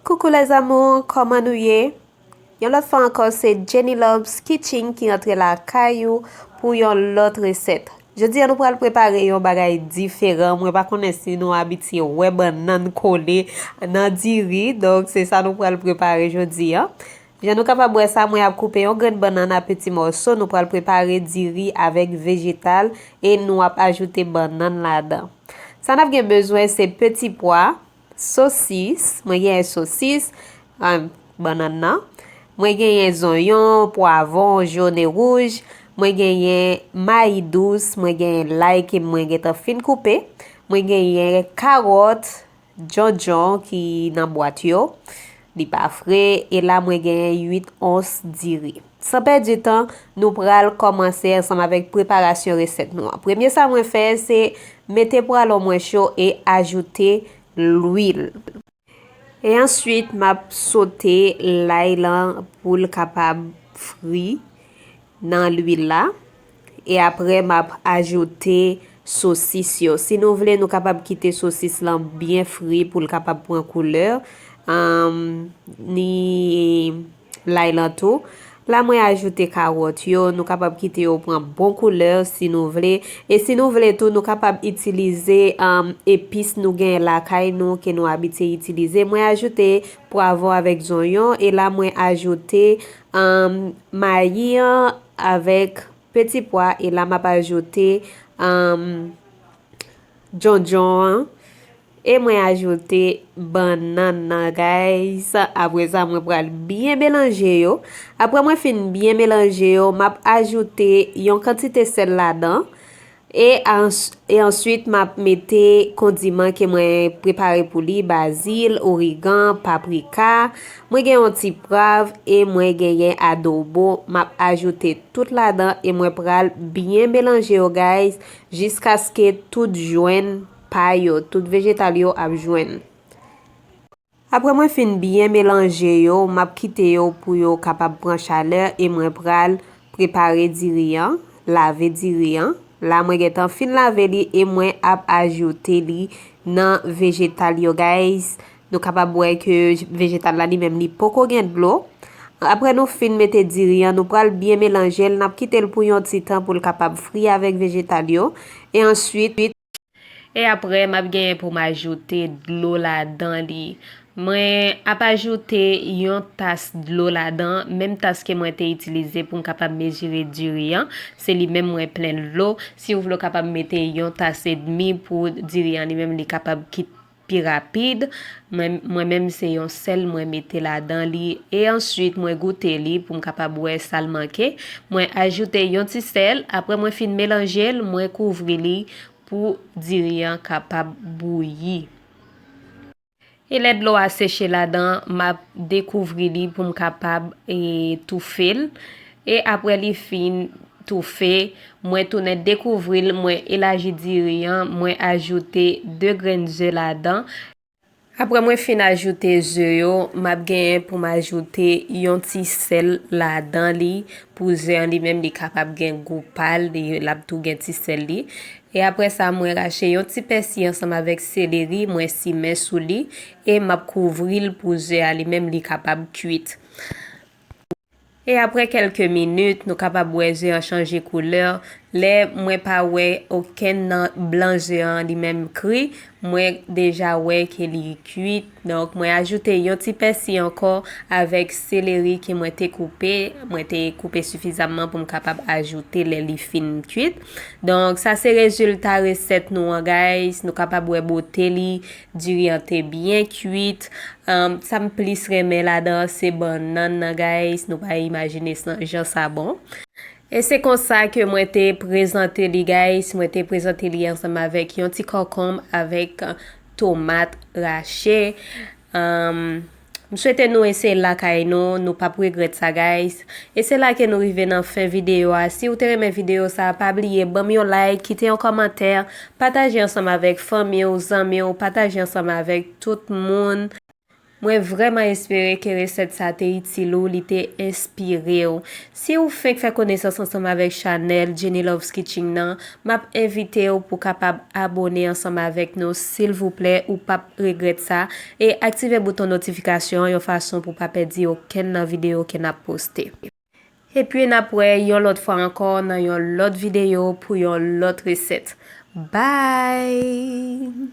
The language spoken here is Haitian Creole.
Coucou les amours kòman nou ye Yon lòt fwa ankò se Jenny Loves Kitchen ki antre la kay ou pou yon lòt resèt Jodi an nou pral prepare yon bagay diferan mwen pa konnen si nou abitye wè bannann kole nan diri donk se sa nou pral prepare jodi an Jan nou kapab wè sa mwen ap koupe yon grenn bannann a peti mòso nou pral prepare diri avèk vejetal e nou ap ajoute bannann ladan Sa n ap gen bezwen se peti pwa Sosis, mwen genyen sosis, bannann nan. Mwen genyen zonyon, pwavon, jòn e wouj. Mwen genyen mayi dous, mwen genyen lay ke mwen gentan fin koupe. Mwen genyen karòt, djondjon ki nan bwat yo. Li pa fre, e la mwen genyen 8 ons diri. San pèdi tan, nou pral kòmanse ansanm avèk preparasyon resèt nou an. Premye sa mwen fè, se mete pwalon mwen cho e ajoute lwil. E answit, m ap sote lay lan pou l kapab fri nan lwil la. E apre map ajoute sosis yo. Si nou vle nou kapab kite sosis lan byen fri pou l kapab pran koulè. Ni lay lan tou. La mwen ajoute kawòt yo. Nou kapab kite yo pran bon koulè si nou vle. E si nou vle tou nou kapab itilize epis nou gen lakay nou ke nou abite itilize. Mwen ajoute pwavon avèk zonyon. E la mwen ajoute Am mayi an avèk peti pwa e la map ajoute am djondjon an e mwen ajoute bannann nan guys apre sa mwen pral byen melanje yo apre mwen fin byen melanje yo map ajoute yon kantite sèl ladan E e answit map mete kondiman ke mwen prepare pou li bazil, origan, paprika, mwen gen yon ti prav e mwen genyen adobo map ajoute tout ladan e mwen pral byen melanje yo guys jiskaske tout jwenn pa yo, tout vejetal yo ap jwenn. Aprè mwen fin byen melanje yo map kite yo pou yo kapab pran chalè e mwen pral prepare diri an, lave diri an, la mwen gentan fin lave li e mwen ap ajoute li nan vejetal yo guys, nou kapab wè ke vejetal la li menm li poko gen dlo, aprè nou fin mete diri an nou pral byen melanjel nap kitel pou yon ti tan poul kapab fri avèk vejetal yo e answit. E apre map genyen pou m ajoute dlo ladan li. Mwen ap ajoute yon tas dlo ladan, menm tas ke mwen te itilize pou m kapab mezire diri an, se li menm mwen plen dlo, si ou vle ou kapab mete yon tas edmi pou diri an li menm li kapab kit. pi rapid, mwen mwen menm se yon sèl mwen mete ladan li e answit mwen goute li poum kapab wè sal manke, mwen ajoute yon ti sèl aprè mwen fin melanjel mwen kouvri li pou diri an kapab bouyi. E lè dlo a seche ladan map dekouvri li poum kapab toufel. E apre li fin toufe, mwen tounen dekouvril mwen elaji diri an mwen ajoute 2 grenn ze ladan. Apre mwen fin ajoute ze yo, map genyen poum ajoute yon ti sèl ladan li pou ze an li menm li kapab gen gou pal lap tou gen ti sèl li. E apre sa mwen rache yon ti pèsi ansanm avèk seleri mwen simen sou li e map kouvril pou ze a li menm li kapab kwit. E aprè kèlke minit, nou kapab wè ze an chanje koulè, lè mwen pa wè okenn nan blan ze an li menm kri, mwen deja wè ke li kuit, donk mwen ajoute yon ti pèsi ankò avèk seleri ke mwen te koupe, mwen te koupe sifizamman pou m kapab ajoute lè li fin kuit. Donk sa se rezilta resèt nou an guys, nou kapab wè bote li, Diri an te byen kuit. Sa m plis renmen ladan an se bannann nan guys, nou pa imajine san jan sa bon. E se konsa ke mwen te prezante li guys, mwen te prezante li ansanm avèk yon ti kòkonb avèk tomat rache. M swete nou eseyel lakay nou, nou pap regrèt sa guys, e se la ke nou rive nan fen videyo a, siw te renmen videyo sa pa bliye banm yon like, kite yon kòmantè, pataje ansanm avèk fanmiw, zanmiw, pataje ansanm avèk tout moun. Mwen vrèman espere ke resèt sa te itil ou, li te enspirew. Si ou fenk fè konesans ansanm avèk chanèl Jenny Loves Kitching nan, map envitew pou kapab abone ansanm avèk nou silvouplè ou pap regrèt sa, e aktive bouton notifikasyon an yon fason pou pa pèdi okenn nan videyo ke nap poste. Epi nap wè yon lòt fwa ankò nan yon lòt videyo pou yon lòt resèt. Bye!